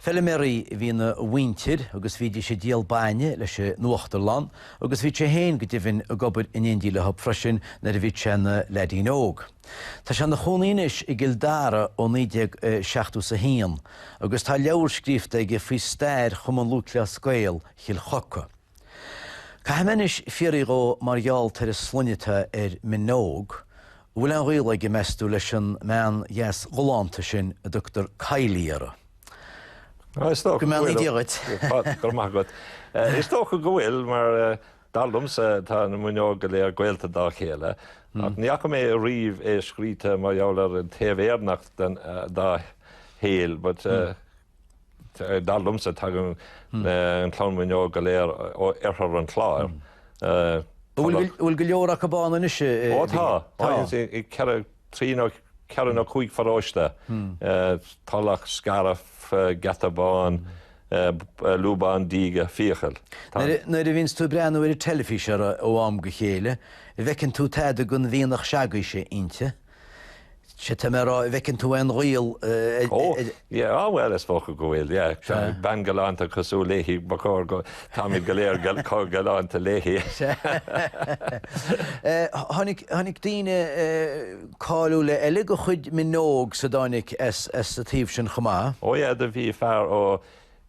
Feilméaraí a bhí ina mhuintir agus bhídís ag díol bainne leis an uachtarlann agus bhíodh sé féin go deimhin ag obair in éindí leo freisin nuair a bhíodh sé ina leaidín óg. Tá sé ina chónaí anois i gCill Dara ó 1971 agus tá leabhar scríofa aige faoi stair Chumann Lúthchleas Gael Chill Choca. Caithfidh mé anois fiaraí dhó mar gheall gurb é an sloinne atá air Minogue, an bhfuil aon ghaol aige, meas tú, leis an mbean dheas ghalánta sin a dtugtar Kylie uirthi? Is dócha go bhfuil. Go mbeannaí Dia dhuit. Go raibh maith agat. Is dócha go bhfuil mar dar liomsa tá na Minogue go léir gaolta dá chéile, ach ní fhaca mé ariamh é scríte mar gheall ar an taobh Éireannach dá shaol but, Dar liomsa tagann an clann Mhuineog go léir ó oirthear an Chláir. Bhfuil go leor acu ann anois? Ó tá, tá ceithre, trí nó ceithre nó cúig pharóiste. Tulach, Scairbh, Geata Bán, Lúbán Díge, Fiacail. Nuair a bhíonns tú ag breathnú ar an teilifís ó am go chéile, an bhfeiceann tú tada den mhianach seo agaibhse inti? Sea, tá mé a rá, an bhfeiceann tú aon ghaol idir. Ó, yeah, oh well, is dócha go bhfuil, yeah. Bean galánta cosúil léi, ba chóir go, táimid go léir chomh galánta léi. Tháinig daoine cáiliúla eile de chuid Minogues, tháinig as an taobh sin chomh maith. Ó yeah, do bhí fear ó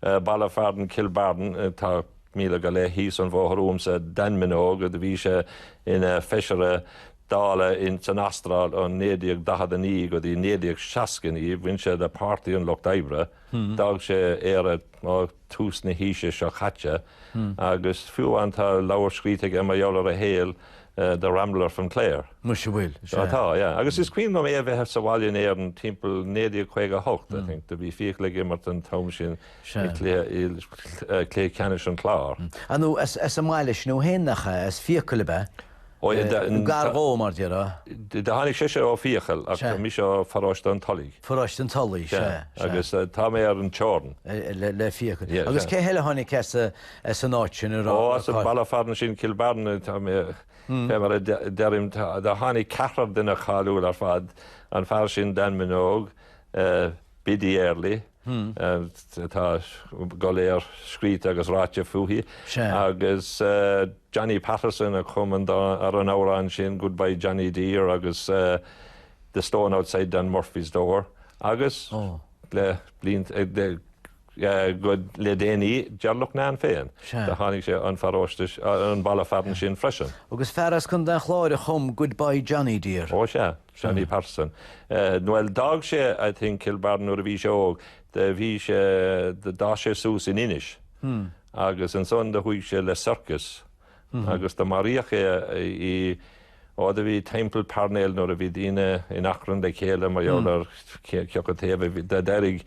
Baile Fearainn Cill Barn, tá míle go leith thíos an bhóthar uaimse, Dan Minogue, do bhí sé ina fheisire Dála san Astráil ó 1949 go dtí 1969, bhain sé le Páirtí an Lucht Oibre, d'fhág sé Éire ó tús na haoise seo caite, agus fiú an tá leabhar scríte aige mar gheall ar a shaol, The Rambler from Clare. Muise an bhfuil? Sea. Tá, yeah. Agus is cuimhin liom é a bheith sa bhaile in Éirinn timpeall 1958, I think. Do bhí Fiacail ag imirt an t-am sin i cluiche ceannais an Chláir. Arnó as an mbaile sin dó féin, nach ea? As Fiacail ab ea? Ó, yeah, da- Nó gar dhó, mar déarfá. D- Do tháinig sé seo ó Fiacail, ach Sea. tá mise ó Pharóiste an Tulaigh. Pharóiste an Tulaigh, sea, sea. Agus eh, tá mé ar an teorann. Eh, le, le Fiacail. Yeah, Agus yeah. cé heile tháinig as a, as an áit sin a raibh As an baile fearainn sin, Cill Bearna, fé mar a deirim, do tháinig ceathrar duine cáiliúil ar fad, an fear sin Dan Minogue, Biddy Early, atá go léir scríte agus ráite fúithi, agus Johnny Patterson a chum an t-amhrán sin Goodbye Johnny Dear agus The Stone Outside Dan Murphy's Door agus le blianta, Le déanaí deartháir Lachtnáin féin do tháinig sé ón paróiste ón baile fearainn sin freisin. Agus fear as Contae an Chláir a chum Goodbye Johnny Dear. Ó sea, Johnny Patterson. Bhuel d'fhág sé I think Kilbarron nuair a bhí sé óg, do bhí sé, do d'fhás sé suas in Inis agus ansan do chuaigh sé le circus, agus do maraíodh é i riot a bhí timpeall Parnell nuair a bhí daoine in achrann le chéile mar gheall ar cé acu taobh. Do d'éirigh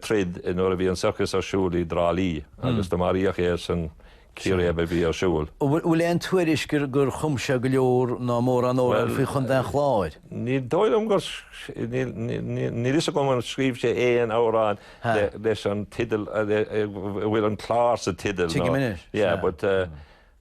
troid nuair a bhí an circus ar siúl i dTrá Lí agus do maraíodh é san chíréib a bhí ar siúl. Bhfuil aon tuairisc gur chum sé go leor ná mórán amhrán faoi Chontae an Chláir? Ní dóigh liom gur, níl a fhios agam ar scríobh sé aon amhrán. leis an tideal, a bhfuil an Clár sa tideal. Tuigim anois. Yeah, but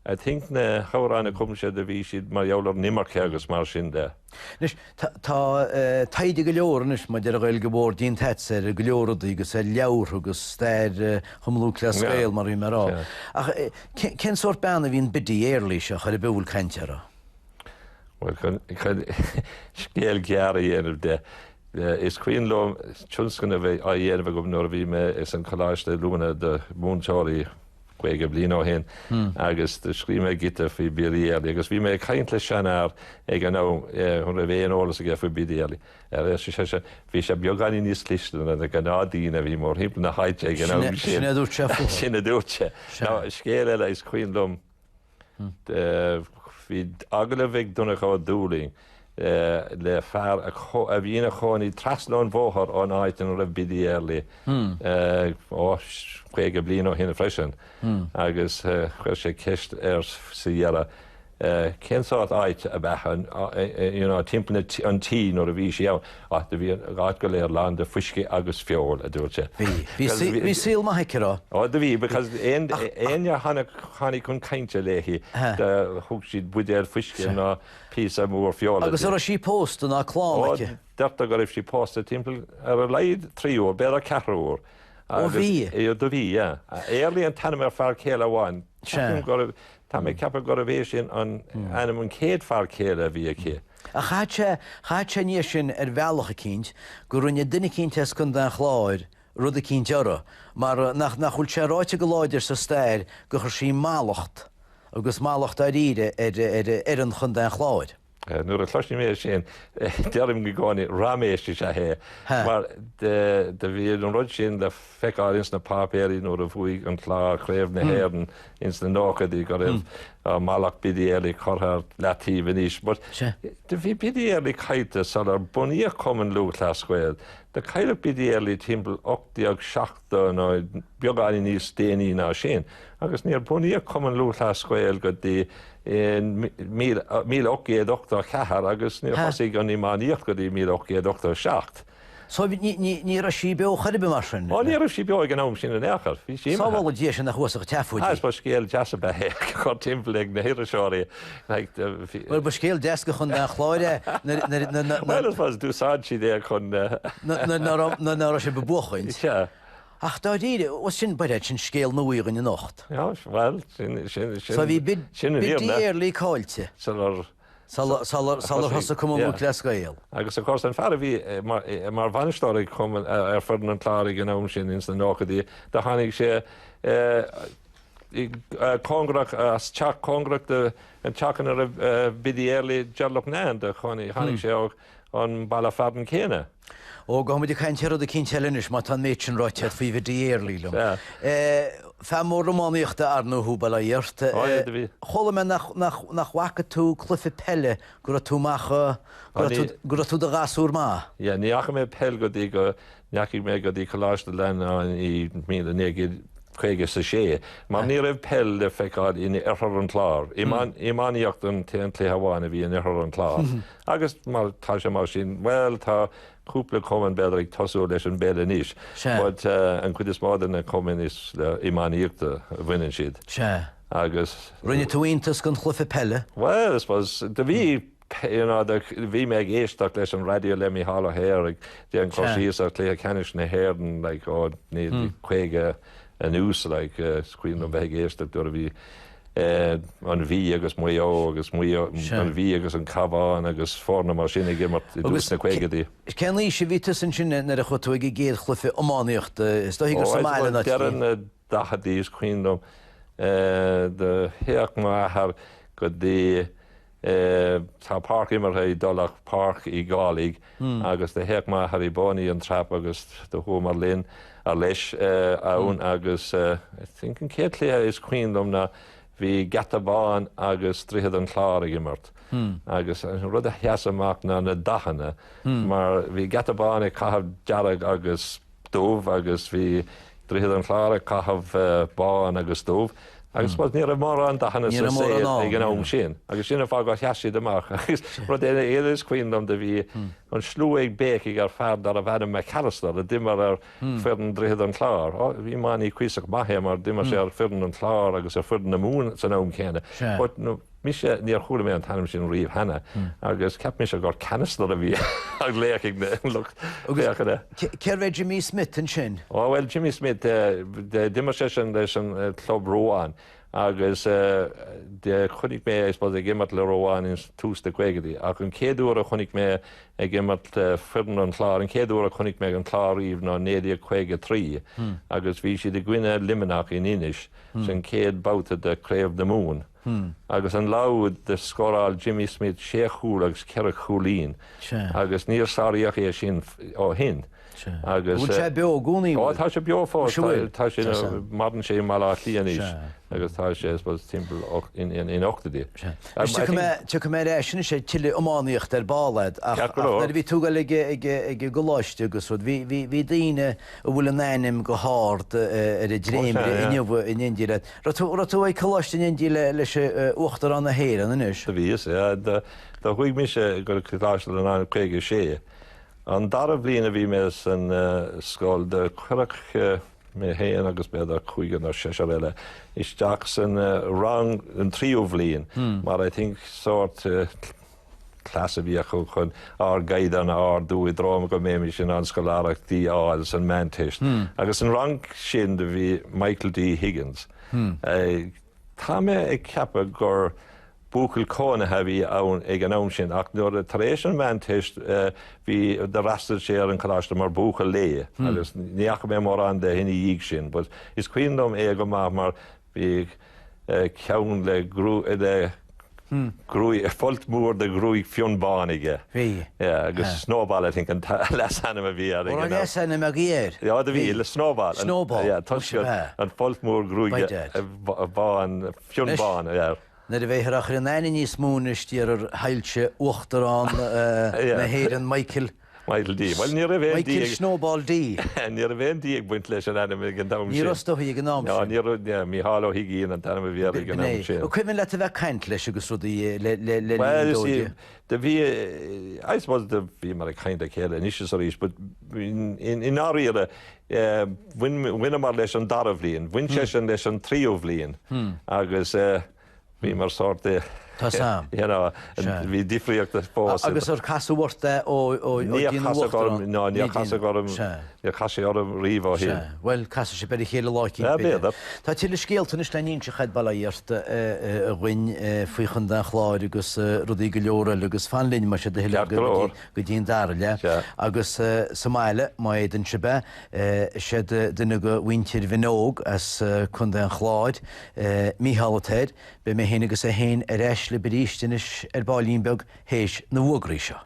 I think na hamhráin a chum sé do bhí siad mar gheall ar an imirce agus mar sin de. Anois, tá taighde go leor anois maidir le gabháil go mór déanta agatsa ar go leor rudaí agus ar leabhartha agus stair Chumann Lúthchleas Gael mar a bhí mé a rá. Ach cén sórt bean a bhí in Biddy Early seo chor ar bith a bhfuil caint uirthi? Bhuel, chun scéal gearr a dhéanamh de, Is cuimhin liom tionscnamh a bheith á dhéanamh agam nuair a bhí mé ins an Coláiste Oiliúna do mhúinteoirí 50 bliain ó shin agus do scríobh mé giota faoi Biddy Early agus bhí mé ag caint le seanfhear ag an am chun an mbeadh aon eolas aige faoi Biddy Early. Ar seisean, bhí sí beagáinín níos cliste ná na gnáthdhaoine a bhí mórthimpeall na háite ag an am sin. Sin a dúirt sé. Sin a dúirt sé. Scéal eile is cuimhin liom, Bhí agallamh ag Donncha Ó Dúlaing le fear a bhí ina chónaí trasna an bhóthair ón áit ina raibh Biddy Early ó 50 bliain ó shin freisin agus chuir sé ceist air sa deireadh cén sórt áite ab ea timpeall an tí nuair a bhí sí ann. Ach do bhí an áit go léir lán de fuisce agus feoil, a dúirt sé. Bhí, bhí saol maith aici, a raibh? Ó do bhí, because éinne a tháinig chun cainte léi, thug siad buidéal fuisce ná píosa mór feola di. Agus a' raibh sí pósta ná clann aici? Ó, deirtear go raibh sí pósta timpeall ar a laghad trí uair, b'fhéidir ceithre uair. Ó bhí? Ó do bhí, yeah. Early an t-ainm ar fear céile amháin. Ceapaim go raibh, tá mé ag ceapadh gurbh é sin an, ainm an chéad fear céile a bhí aici. Ach chaithfidh, chaithfidh sé ina dhiaidh sin ar bhealach eicínt gur rinne duine eicínt as Contae an Chláir rud eicínt uirthi, mar nach, nach bhfuil sé ráite go láidir sa stair gur chuir sí mallacht, agus mallacht dáiríre, ar, ar fhoireann Chontae an Chláir. Nuair a chloisim é sin, deirim i gcónaí, raiméis is ea é, mar do bhí an rud sin. feiceáil ins na páipéirí nuair a bhuaidh an Clár Craobh na hÉireann ins na nóchaidí go raibh mallacht Biddy Early curtha ar leataobh anois but do bhí Biddy Early caillte sular bunaíodh Cumann Lúthchleas Gael. Do cailleadh Biddy Early timpeall 1870 nó beagáinín níos déanaí ná sin agus níor bunaíodh Cumann Lúthchleas Gael go dtí míle ocht gcéad ochtó a ceathair agus níor thosaigh an iománaíocht go dtí míle ocht gcéad ochtó a seacht. So ní raibh sí beo chor ar bith mar sin? Ó ní raibh sí beo ag an am sin in aon chor, bhí sí imithe. Sábhála Dia sinn a chuas go teacht faoi dí. Is ba scéal deas é a bheith á chur timpeall ag na hiriseoirí ná ag na fir. Bhuel ba scéal deas é chun an chláir é nuair. Bhuel I suppose d'úsáid siad é chun. nuair ná raibh sé ag buachaint. Sea. Ach dáiríre, ó sin b'fhearr sin scéal nua againn anocht. Bhuel sin, sin, sin, sin an fhírinne. So bhí Biddy Early caillte. Sular. sular thosaigh Cumann Lúthchleas Gael. Agus of course an fear a bhí mar bhainisteoir ag Cumann, ar foireann an Chláir ag an am sin, ins na nóchaidí, do tháinig sé cóngarach, as teach cóngarach don teach ina raibh Biddy Early, Ger Loughnane, do chónaigh, tháinig sé ó. an mbaile fearainn céanna. Ó, gabhfaidh muid ag caint ar rud eicínt eile anois, má tá an méid sin ráite agat faoi Bhiddy Early liom. Fear mór iománaíochta, ar ndóigh, thú, bail ó Dhia ort. Ó, fhead a bhí. Chuala mé nach bhfaca tú cluife peile go raibh tú amach, go raibh tú i do ghasúr maith. Yeah, ní fhaca mé peil go dtí go ndeachaigh mé go dtí Coláiste Fhlannáin i 1956 mar ní raibh peil le feiceáil in oirthear an Chláir, iománaíocht an t-aon cluiche amháin a bhí in oirthear an Chláir agus tá sé mar sin bhuel tá cúpla cumann b'fhéidir ag tosú leis an bpeil anois but an chuid is mó de na cumainn is le iománaíocht a bhaineann siad agus Rinne tú iontas den chluife peile? Bhuel I suppose do bhí you know, the, bhí mé ag éisteacht leis an raidió le Micheál Ó hEithir ag déanamh an cur síos ar Chluiche Ceannais na hÉireann like ó 1950 anuas like eh, is cuimhin liom bheith ag éisteacht nuair a bhí eh, an Mhí agus Maigh Eo, an Mhí agus an Cabhán agus foirne mar sin ag imirt i dtús na caogaidí. Agus cén aois a bhí tusa ansin nuair a chuaigh tú ag an gcéad chluife iománaíochta? Is dóichí gur sa mbaile ná trí. daichidí is cuimhin dom do théadh mo athair go dtí tá páirc imeartha i dTulach páirc Uí Dhálaigh agus do théadh m'athair i bpónaí and trap agus do chuamar linn or leis ann agus I think an céad cluiche is cuimhin dom ná bhí Geata Bán agus Droichead an Chláir ag imirt agus an rud a sheas amach ná na dathanna mar bhí Geata Bán ag caitheamh dearg agus dubh agus bhí Droichead an Chláir ag caitheamh bán agus dubh agus rud ní raibh mórán dathanna sa saol ag an am sin agus sin an fáth gur sheas siad amach agus rud eile is cuimhin liom do bhí an slua ag béicigh ar fear darbh ainm McAllister a d'imir ar foireann Droichead an Chláir. Ó bhí Mattie cuíosach maith mar d'imir sé ar fhoireann an Chláir agus ar fhoireann na Mumhan san am céanna. Mise, níor chuala mé an t-ainm sin riamh cheana agus cheap mise gur Cannister a bhí á ghlaoch ag lucht féachana. Agus cérbh é Jimmy Smith ansin? Ó bhuel, Jimmy Smith, d'imir seisean leis an chlub Ruán agus chonaic mé é, I suppose, ag imirt le Ruán ag tús na gcaogadaí ach an chéad uair a chonaic mé ag imirt le foireann an Chláir, an chéad uair a chonaic mé an Clár riamh ná 1953 agus bhí siad i gcoinne Luimneach in Inis, san chéad babhta de Craobh na Mumhan. agus an lá úd scóráil Jimmy Smith sé chúl agus ceithre chúilín agus níor sáraíodh é sin ó shin agus. Bhfuil sé beo i gcónaí? Ó tá sé beo fós, tá sé ina, maireann sé i mBaile Átha Cliath anois agus tá sé I suppose timpeall in ochtóidí. Tiocfaidh mé ar ais anois ar thuilleadh iománaíochta ar ball agat ach nuair a bhí tú ag goil ag an gcoláiste agus rud bhí daoine a bhfuil a n-ainm go hard ar an dréimire inniu in éindí le Raibh tú, raibh tú ag coláiste in éindí le, leis an, Uachtarán na hÉireann, anois? Do bhíos, yeah. Do, do chuaigh mise go Coláiste Fhlannáin i caoga a sé. An dara bhliain a bhí mé san scoil do cuireadh mé fhéin agus b'fhéidir cúigear nó seisear eile isteach san rang an tríú bhliain mar I think sórt, Cleas a bhí acu chun ár gcaighdeán a ardú i dtreo go mbeimis in ann scoláireachtaí a fháil san Meánteist. Agus an rang sin do bhí Michael D. Higgins. Tá mé ag ceapadh gur buachaill cónaithe a bhí ann ag an am sin ach nuair a, tar éis an Mheánteist, bhí, d'fhreastail sé ar an coláiste mar buachaill lae agus ní fhaca mé mórán de ina dhiaidh sin but is cuimhin liom é go maith mar Bhíodh ceann le gruaig, folt mór de ghruaig fionn bán aige. Yeah agus Snowball I think an leasainm a bhí air. Ó raibh leasainm agaibh air? Yeah do bhí le Snowball. Snowball. Yeah toisc an folt mór gruaig bán fionn bán air. Nuair a bheidh athrach aithne níos mó anois air a Shoilse Uachtarán na hÉireann Michael Michael D. Bhuel, ní raibh aon D. Michael Snowball D. Ní raibh aon D ag baint leis an ainm ag an am sin. Ní raibh stoc aige ag an am sin. Ní raibh, ní, Mícheál Ó hUigín an t-ainm a bhí air ag an am sin. An cuimhin leat a bheith ag caint leis agus rudaí eh, le, le, le, Well, you see, do bhí, I suppose do bhíomar ag caint le chéile anois is arís, but i ndáiríre, eh, bhain, bhaineamar leis an dara bhliain, bhain seisean leis an tríú bhliain, hmm. agus, uh, Bhí mar sórt duine. Tá sam. You know, bhí difríocht fós. Agus ar casadh ort é ó bhí sé ina Uachtarán? Ná, níor casadh orm, níor chas sé orm riamh ó shin. Bhuel, casfaidh sibh b'fhéidir le chéile lá eicínt. B'fhéidir. B'fhéidir, b'fhéidir. Tá tuilleadh scéalta anois le n-inseacht aige, bail ó Dhia ort, dhúinn faoi Chontae an Chláir agus rudaí go leor eile agus fan linn, más é do thoil, go dtí an dara leath. Agus sa mbaile, má fhéadann sibh é, Is é duine de mhuintir Mhinóg as Contae an Chláir, Mícheál atá air. Beidh mé féin agus é féin ar ais libh arís anois ar baillín beag théis na bhfógraí seo.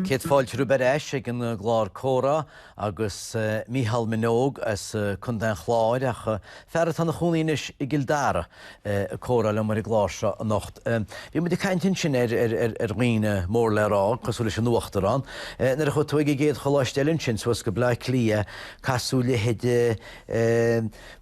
Céad fáilte romhaibh ar ais ag an gclár Comhrá. agus Mícheál Minogue as Contae an Chláir, ach fear atá ina chónaí anois i gCill Dara, ag comhrá liom ar an gclár seo anocht. Bhí muid ag caint ansin ar dhaoine mór le rá, cosúil leis an Uachtarán. Nuair a chuaigh tú ag an gcéad choláiste eile ansin, suas go Bleá Cliath, casadh leithéidí,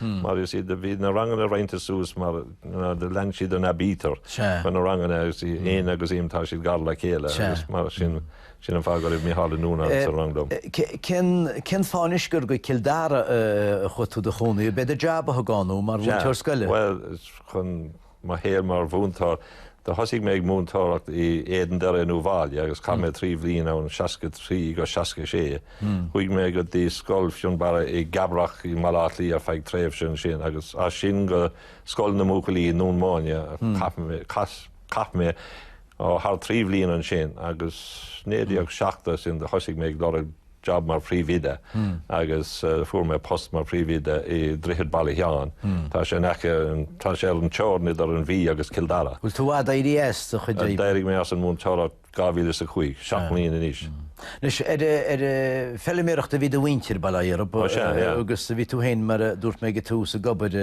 mar is ea do bhí na ranganna roinnte suas mar do lean siad an aibítir chun na ranganna agus bhí N agus M tá siad gar le chéile agus mar sin sin an fáth go raibh Micheál Ó Nuanáin sa rang liom. Cén cén fáth anois gur go Cill Dara a chuaigh tú a chónaí? B'é do jab a thug ann thú mar mhúinteoir scoile? Bhuel chun mo shaol mar mhúinteoir. Do thosaigh mé ag múinteoireacht i Éadan Doire in Uíbh Fhailí agus chaith mé trí bhliain ann, 63 go 66. Chuaigh mé go dtí Scoil Fionnbarra i gCabrach i mBaile Átha Cliath ar feadh tréimhse ansin agus as sin go Scoil na mBuachaillí i nDún Búinne. Chaith mé thar trí bhliain ansin agus 1970 ansin do thosaigh mé ag lorg jab mar phríomhoide agus fuair mé post mar phríomhoide i Droichead Baile Sheáin. Tá sé in aice tá sé ar an teorainn idir an Mhí agus Cill Dara. Bhfuil tú i bhfad éirithe as do chuid oibre? D'éirigh mé as an mhúinteoireacht 2005, seacht mbliain anois. Anois ar ar feiliméireacht a bhí do mhuintir bail ó Dhia ort agus bhí tú féin mar a dúirt mé ag an tús ag obair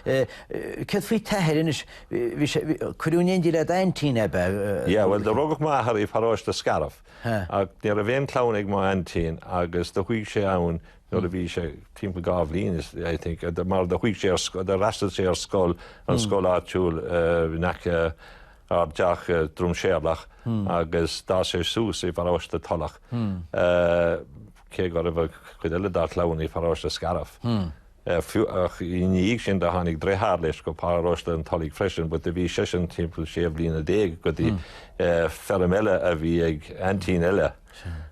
Céard faoi t'athair anois bhí sé cuireadh in éindí le d'aintín ab ea? Bhuel do rugadh m'athair i bparóiste Scairbh. Ach ní raibh aon chlann ag mo aintín agus do chuaigh sé ann nuair a bhí sé timpeall dhá bhliain d'aois I think mar do chuaigh sé ar do fhreastail sé ar scoil an scoil áitiúil in aice ár dteach Drum Séarlach agus d'fhás sé suas i bparóiste Tulach cé go raibh cuid eile dá chlann i bparóiste Scairbh. ach i ndiaidh sin do tháinig deartháir leis go Paróiste an Tulaigh freisin but do bhí seisean timpeall sé bhliana déag go dtí feirm eile a bhí ag aintín eile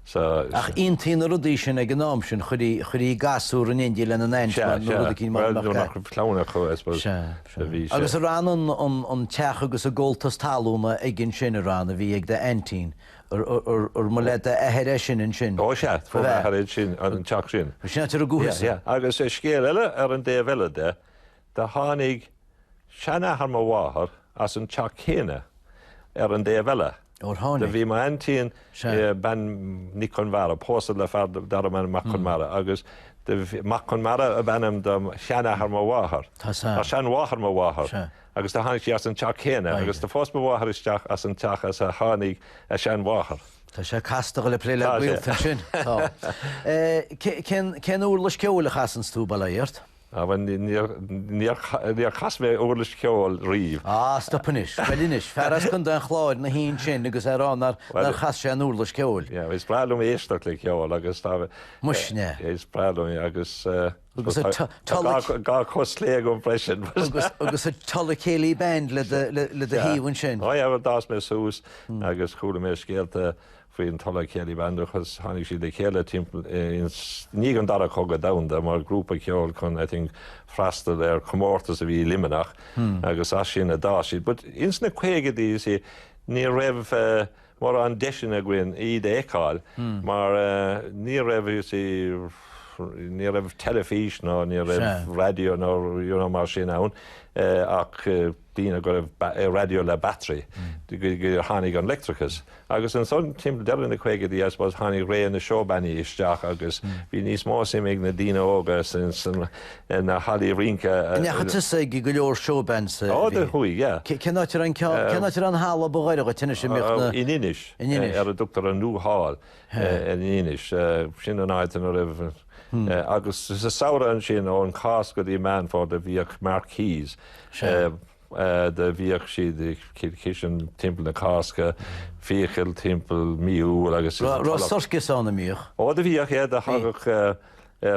so. Ach dhéantaí na rudaí sin ag an am sin chuir chuirtí gasúir in éindí lena n-aintín nó rud eicínt mar nach raibh clann acu I suppose. Sea, sea. Bhí sé. Agus ab é an an an teach agus an gabháltas talúna agaibh ansin an ceann a bhí ag do aintín. Ar mo leath d'athair é sin ansin? Ó sea, from m'athair é sin, an teach sin. Bhí sin ar an gcúl thusa. Yeah, yeah. Agus scéal eile ar an dtaobh eile de, do tháinig seanathair mo mháthar as an teach céanna ar an dtaobh eile. Ó tháinig. Do bhí m'aintín, bean Nic Conmara, pósta le fear darbh ainm Mac Conmara agus Mac Conmara ab ainm do sheanathair mo mháthar. Tá, sean. Seanmháthair mo mháthar. Agus do tháinig sí as an teach céanna. Agus do phós mo mháthair isteach as an teach as a tháinig a seanmháthair. Tá sé casta dul ag plé le gaolta ansin. Tá. Cén uirlis ceoil a chasanns tú, bail ó Dhia ort? Á bhuel níor chas mé uirlis cheoil riamh. Á stop anois. Bhuel anois, fear as Contae an Chláir ina shuí ansin agus é ag rá nár chas sé an uirlis cheoil. Yeah, is breá liom éisteacht le ceol agus tá. Muise. Is breá liom é agus. Agus. Dhá chos chlé agam freisin. Agus an Tulla Céilí Band le do thaobh ansin. Ó bhuel, d'fhás mé suas agus chuala mé scéalta faoin Tulla Céilí Band agus tháinig siad le chéile timpeall i ndiaidh an Dara Cogadh Domhanda mar grúpa ceoil chun, I think, freastal ar chomórtas a bhí i Luimneach agus as sin a d'fhás siad. But ins na caogaidí, you see, ní raibh, mórán deiseanna againn iad a fheiceáil mar ní raibh, you see, ní raibh teilifís ná ní raibh raidió ná you know mar sin ann ach daoine go raibh raidió le battery gur tháinig an leictreachas agus ansan timpeall deireadh na gcaogaidí I suppose tháinig ré na seó-bannaí isteach agus bhí níos mó suim ag na daoine óga sna na hallaí rince. Nach ea, tusa ag go leor showbands a bhí. Ó bhí, yeah. Cén áit a raibh an ceann, cén áit a raibh an halla ba ghaire dhuit anois a mbeadh na? In Inis. In Inis. Ar a dtugtar an New Hall in Inis. Sin an áit ina raibh agus sa samhradh ansin ón Cháisc go dtí Meán Fómhair do bhíodh marquees do bhíodh siad ag Cill Chisín timpeall na Cásca, Fiacail timpeall mí Iúil agus. Raibh sorcas ann a mbíodh? Ó do bhíodh, yeah, do thagadh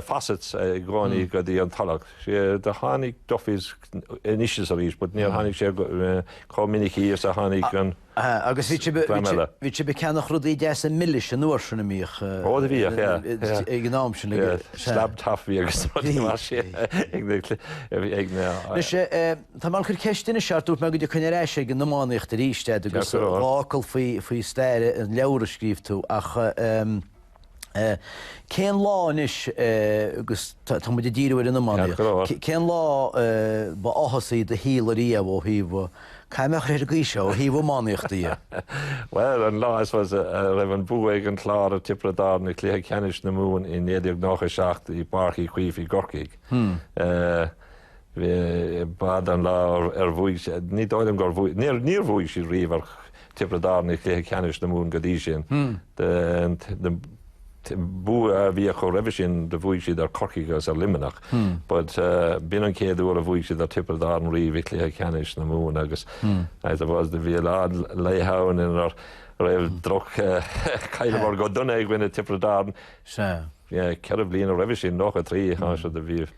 Fawcett's i gcónaí go dtí an Tulach. Do tháinig Duffy's anois is arís but níor tháinig sé chomh minic thíos is a tháinig an dream eile. Agus bhí sibh ag ceannach rudaí deasa milis an uair sin a mbíodh Ó do bhíodh, yeah. ag an am sin. Slab toffee agus rudaí mar sin ag na. Anois, tá mé ag cur ceist anois ort, dúirt mé go dtiocfainn ar ais ag an iománaíocht arís, agus dhá fhocal faoi stair an leabhair a scríobh tú, ach. Cén lá anois, agus tá muid ag díriú ar an iománaíocht, cén lá ba áthasaí do shaol ariamh ó thaobh, caithfidh mé a rá ar an gcaoi seo, ó thaobh iománaíochta dhe? Bhuel, an lá, I suppose, a raibh an bua ag an gClár ar Tiobraid Árann i gcluiche ceannais na Mumhan i 1997 i bPáirc Uí Chaoimh i gCorcaigh. B'in an lá ar bhuaigh, ní dóigh liom gur bhuaigh, níor bhuaigh siad riamh ar Tiobraid Árann i gcluiche ceannais na Mumhan go dtí sin. Bua a bhí acu roimhe sin do bhuaigh siad ar Corcaigh agus ar Luimneach, but b'in an chéad uair a bhuaigh siad ar Tiobraid Árann riamh i gcluiche ceannais na Mumhan agus I suppose do bhí a lán laetha ann inar raibh droch chailleamar go dona i gcoinne Tiobraid Árann ceithre bliana roimhe sin, nócha a trí, do bhí.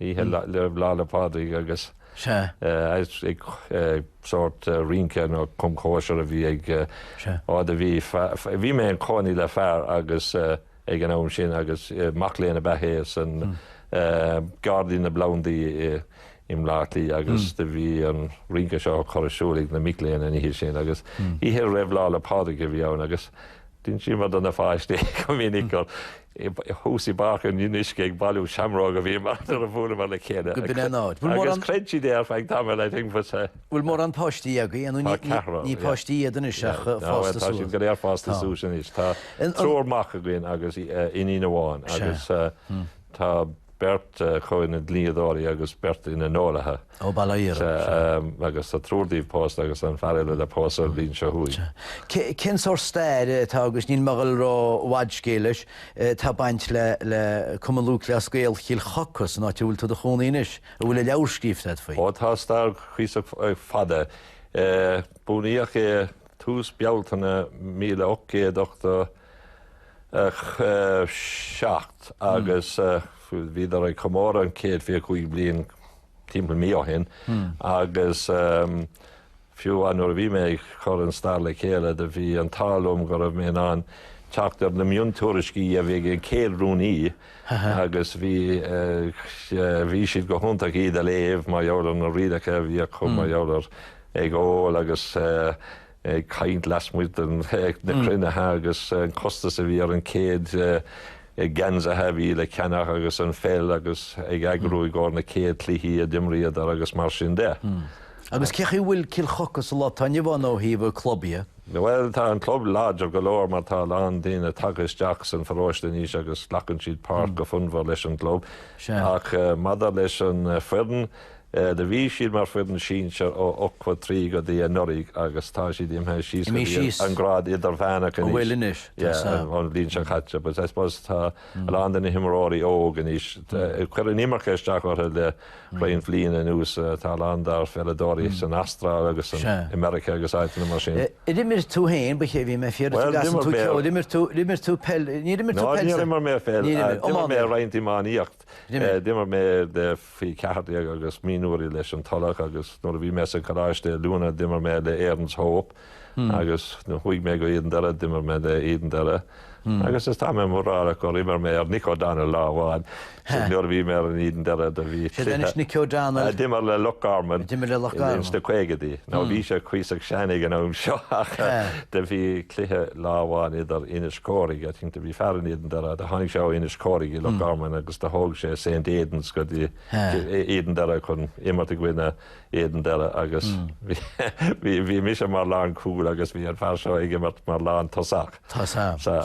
oíche roimh Lá 'le Pádraig agus ag sórt rince nó cum cóisir a bhí ag á do bhí. Bhí mé im chónaí le fear agus ag an am sin agus mac léinn ab ea hé san Gairdín na bPlandaí i mBleá Cliath agus do bhí an rince seo curtha ar siúl ag na mic léinn an oíche sin agus oíche roimh Lá 'le Pádraig a bhí ann agus D'insíomar do na pháistí go minic gur thuas i bPáirc an Fhionnuisce ag bailiú seamróg a bhíomar nuair a bhuaileamar le chéile agus chreid siad é ar feadh tamaill, I think, but. Bhfuil mórán páistí agaibh ní ceathrar, ní páistí iad anois ach fásta suas. Tá siad go léir fásta suas anois. Tá triúr mac againn agus iníon amháin agus Tá beirt acu ina ndlíodóirí agus beirt ina n-eolaithe. Ó, bail ó Dhia orthu. Agus tá triúr díobh pósta agus an fear eile le pósadh an bhliain seo chugainn. Cén sórt stair atá agus níl mé ag goil ró fhad scéil leis, atá ag baint le Cumann Lúthchleas Gael Chill Choca, san áit a bhfuil tú i do chónaí anois, a bhfuil an leabhar scríofa agat faoi? Ó, tá stair cuíosach fada. Bunaíodh é tús Bealtaine míle ocht gcéad ochtó. a seacht agus bhíodar ag comóradh an 125 bliain timpeall mí ó shin agus fiú nuair a bhí mé ag cur an stair le chéile do bhí an t-ádh liom go raibh mé in ann teacht ar na miontuairiscí a bhí ag an chéad rúnaí agus bhí bhí siad go hiontach iad a léamh mar gheall ar na rialacha a bhí acu mar gheall ar ag ól agus ag caint lasmuigh de na cruinnithe agus an costas a bhí ar an céad geansaithe a bhí le ceannach agus an pheil agus ag eagrú i gcóir na céad cluichí a d'imríodar agus mar sin de. Agus cé chaoi bhfuil Cill Choca sa lá atá inniu ann ó thaobh an chlub dhe? Bhuel tá an club láidir go leor mar tá a lán daoine tagtha isteach san pharóiste anois agus glacann siad páirt go fonnmhar leis an gclub. Sea. Ach maidir leis an foireann, Do bhí siad mar foireann sinsear ó ochtó a trí go dtí anuraidh agus tá siad imithe síos go dtí an grád idirmheánach anois, ón bhliain seo chaite but I suppose tá a lán de na himreoirí óg anois, chuir an imirce isteach orthu le roinnt bhliana anuas, tá a lán dár pheileadóirí san Astráil agus i Meiriceá agus áiteanna mar sin. D'imir tú féin, caithfidh mé fiafraí, d'imir tú peil, ní d'imir tú peil? Ná, níor imir mé peil, d'imir mé roinnt iománaíocht. D'imir mé le Faoi 14 agus mionúirí leis an Tulach agus nuair a bhí mé sa Choláiste Oiliúna d'imir mé le Erin's Hope agus nuair chuaigh mé go Éadan Doire d'imir mé le Éadan Doire agus is tá mé mórálach gur imir mé ar Nick O'Donnell lá amháin nuair a bhí mé in Éadan Doire do bhí Sé anois Nicky O'Donnell. D'imir le Loch Garman. D'imir le Loch Garman. Ins na caogaidí. Now bhí sé cuíosach sean ag an am seo ach do bhí cluiche lá amháin idir Inis Córthaidh, I think do bhí fear in Éadan Doire, do tháinig sé ó Inis Córthaidh i Loch Garman agus do thóg sé Saint Aidan's go dtí Éadan Doire chun imirt i gcoinne Éadan Doire agus bhí bhí mise mar lán cúl agus bhí an fear seo ag imirt mar lán tosach. Tá sa. Sa.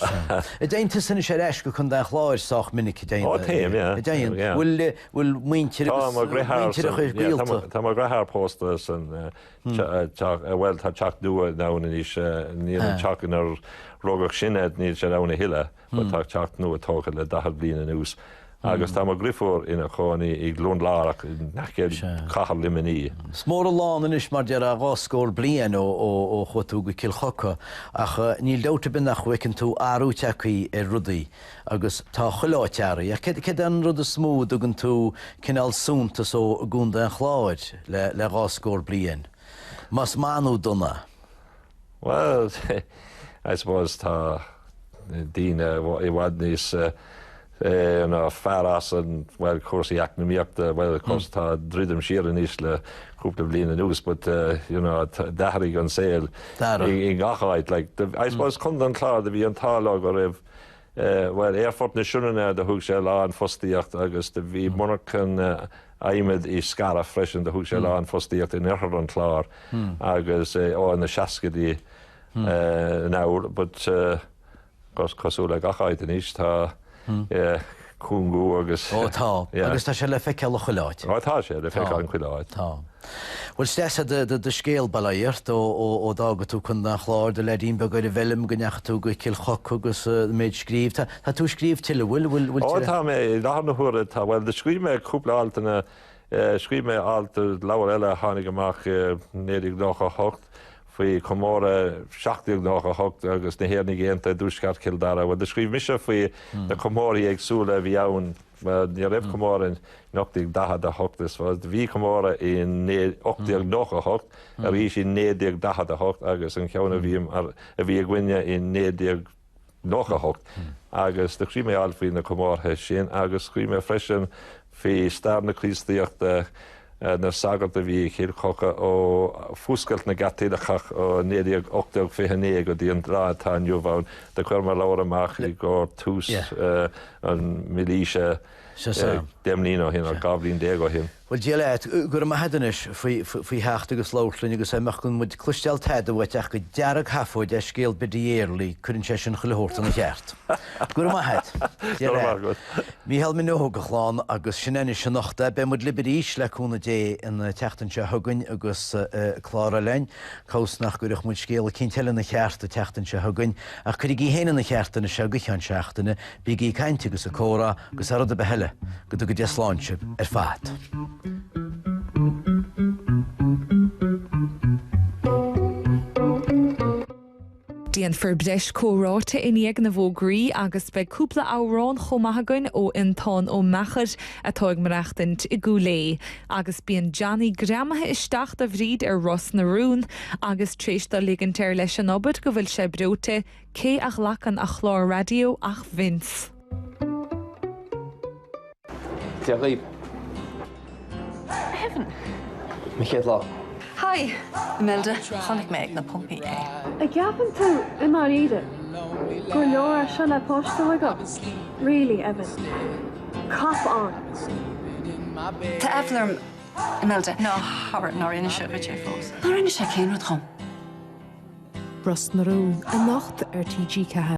An dtéann tusa anois ar ais go Contae an Chláir sách minic Ó téim téim bhfuil bhfuil muintir mo dheartháir chuir Tá mo dheartháir pósta san Bhuel, tá teach nua ann anois. Níl an teach inar rugadh sinne, níl sé ann a thuilleadh, but tá teach nua tógtha le daichead bliain anuas. Agus tá mo dhriofúr ina chónaí i gCluain Lárach in aice cathair Luimnigh. Is mór an lán anois, mar deirtear, dhá scór bliain ó chuaigh tú go Cill Choca, ach níl dabht ar bith nach bhfeiceann tú athrú tagtha ar rudaí. agus tá chuile áit athraithe. Ach céard é an rud is mó a dtugann tú cineál suntas dó i gContae an Chláir le dhá scór bliain, más maith nó dona? Bhuel, I suppose tá daoine i bhfad níos fearr as in, bhuel, cúrsaí eacnamaíochta, bhuel, of course, tá druidim siar anois le cúpla bliain anuas but, you know, d'athraigh an saol i ngach áit like, I suppose Contae an Chláir, do bhí an t-ádh leo go raibh, Bhuel, Aerfort na Sionainne do thug sé a lán fostaíocht agus do bhí monarchan adhmaid i Scariff freisin do thug sé a lán fostaíocht in oirthear an Chláir agus é ó na seascaidí anall but cosúil le gach áit anois tá cúngú agus. Ó tá, agus tá sé le feiceáil i chuile áit. Ó tá sé le feiceáil i chuile áit. Tá. Bhuel is deas é do scéal bail ó Dhia ort ó d'fhága tú Contae an Chláir i do leaidín beag ar an bhfeilm go ndeachaigh tú go Cill Choca agus an méid scríobh. Tá tú ag scríobh tuilleadh, bhfuil? Ó tá mé, i láthair na huaire tá, bhuel do scríobh mé cúpla altanna Scríobh mé alt i leabhar eile a tháinig amach i 1998 faoi chomóradh 1798 agus na hÉireannaigh Aontaithe i dtuaisceart Chill Dara. Bhuel, do scríobh mise faoi na comórthaí éagsúla a bhí ann. Ní raibh comóradh in 1848 is bhí comóradh i 1898, arís i 1948 agus an ceann a bhí againne i 1998. 98 agus do scríobh mé alt faoi na comórtha sin agus scríobh mé freisin faoi stair na Críostaíochta, na sagart a bhí i Cill Choca ó fuascailt na gCaitliceach ó 1918-29 go dtí an lá atá inniu ann. Do chuir mé leabhar amach i gcomhair tús an mhílaoise deich mbliana ó shin, nó dhá bhliain déag ó shin. Bhuel, Dia leat. Go raibh maith a'd anois faoi theacht agus labhairt linn agus dá mbeadh gan muid cloisteáil tada uait ach gur dearg-sheafóid é scéal Biddy Early, cuireann sé sin chuile shórt ina cheart. Go raibh maith a'd. Dia leat. Mícheál Minogue, a chlann, agus sin é anois anocht é. Beidh muid libh arís, le cúnamh Dé, an tseachtain seo chugainn agus clár eile againn. Cá bhfios nach gcuirfeadh muid scéal eicínt eile ina cheart an tseachtain seo chugainn. Ach cuirigí féin ina cheart anois seo go ceann seachtaine. Bígí ag caint agus ag comhrá agus thar rud ar bith eile, go dtuga Dia slán sibh ar fad. Déanfar breis comhráite i ndiaidh na bhfógraí agus beidh cúpla amhrán chomh maith againn ó Fhionntán Ó Meachair atá ag maireachtaint i gCúil Aodha. Agus bíonn Johnny greamaithe isteach do Bhríd ar Ros na Rún agus tar éis dó ligint air leis an obair go bhfuil sé breoite, Cé a ghlacann a chlár raidió ach Vince! Dia dhaoibh! Evan! Mo chéad lá. Hi! Imelda, chonaic mé ag na pumpaí é. A gceapann tú, i ndáiríre, gur leor é seo le páiste agat? Really, Evan. Cop on! Tá aiféala orm. Imelda, Ná habair nár inis sé dhuit é fós. Nár inis sé cén rud dhom? Ros na Rún anocht ar TG4.